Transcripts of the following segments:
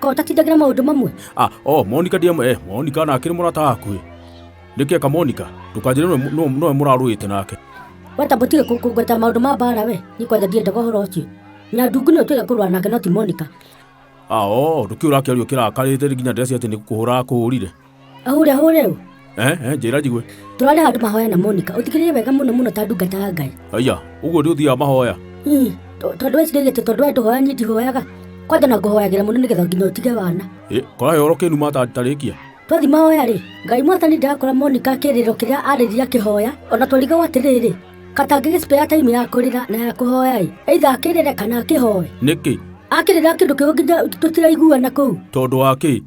Ko ũtatindagĩra maũndũ mamwe? Ah, oh, Monica ndiamwe, eh, Monica na akĩrĩ mũrata hakuhĩ. Nĩkĩ eka Monica? Ndũkanjĩre nĩwe- nĩwe nĩwe mũrarũĩte nake. Weta mũtige kũ- kũngweta maũndũ ma mbaara we. Niĩ kwanja ndiendaga ũhoro ũcio. Nyandungu nĩwe twĩre kũrũa nake no ti Monica. Ah, oh, ndũkĩũra akĩario kĩrakarĩte nginya ndĩracia atĩ nĩ kũhũra akũhũrire. ahũre ahũre ũ eh eh njĩra njigue tũrarĩ handũ mahoya na monika ũtigĩrĩre wega mũno mũno ta ndungata ya ngai aya ũguo nĩ ũthiaga mahoya Ii, to- tondũ wecirĩtie tondũ we ndũhoya niĩ ndihoyaga kwanja na ngũhoyagĩra mũno nĩgetha nginya ũtige wana Eh, kora yoro kĩnu matarĩkia twathi mahoya rĩ ngai mwathani ndakora monika kĩrĩro kĩrĩa arĩria kĩhoya ona twarigawo atĩrĩrĩ katangĩgĩ spare time ya kũrĩra na ya kũhoya ĩ eitha akĩrĩre kana akĩhoe nĩkĩ akĩrĩra kĩndũ kĩgo nginya tũtiraiguana kũu tondũ wa kĩ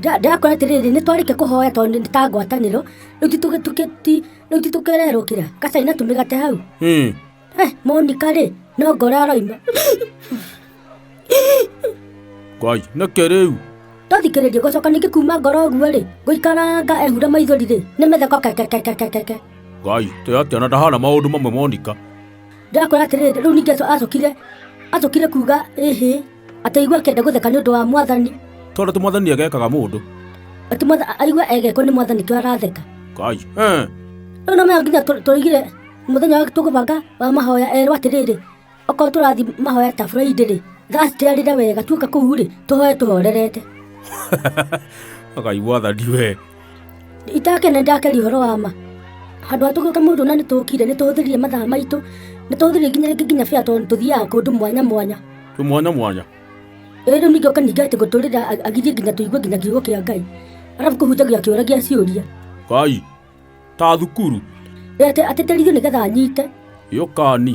Nda- ndakora atĩrĩrĩ nĩ twarĩkia kũhoya tondũ nĩ ta ngwatanĩro rĩu ti tũgĩ- tũgĩ- ti- rĩu ti tũkererwo kĩra kacaina tũmĩgate hau Hmm. Eh, monika rĩ no ngora aroima Ngai, nĩkĩ rĩu? ndathikĩrĩria gũcoka ningĩ kuma ngoro ũguo rĩ ngũikaranga ehura maithori rĩ nĩ mĩtheko kekekekekeke Ngai, tĩ atĩa na ndahana maũndũ mamwe monika. ndakora atĩrĩrĩ rĩu ningĩ aco- acokire acokire kuga ĩhĩ Ataigua akĩenda gũtheka nĩ ũndũ wa mwathani. Tondũ ti mwathani egekaga mũndũ. Ati mwatha- aigua egekwo nĩ mwathani kĩo aratheka. Kai. Eh. Rĩu no maya nginya tũ- tũrĩgire mũthenya wa tũkũbanga wa mahoya erwo atĩrĩrĩ okorwo tũrathi mahoya ta Friday rĩ thacitĩarĩre wega tuoka kũu rĩ tũhoe tũhorerete Kai mwathani we. itakene ndakeri ũhoro wa ma handũ ha tũgĩũka mũndũ na nĩ tũkire nĩ tũhũthĩrire mathaa maitũ nĩ tũhũthĩrire nginya rĩngĩ nginya bĩa tondũ tũthiaga kũndũ mwanya mwanya Tumwana mwanya. Ĩĩ rĩu ningĩ ũkaningĩ atĩ gũtũrĩra a- agithie nginya tũigue nginya kiugo kĩa Ngai. Arabu kũhunjagia kĩũra gĩa ciũria. Kai. Ta thukuru. Ĩĩ atĩ atĩtĩrithio nĩgetha anyite. Yũkani.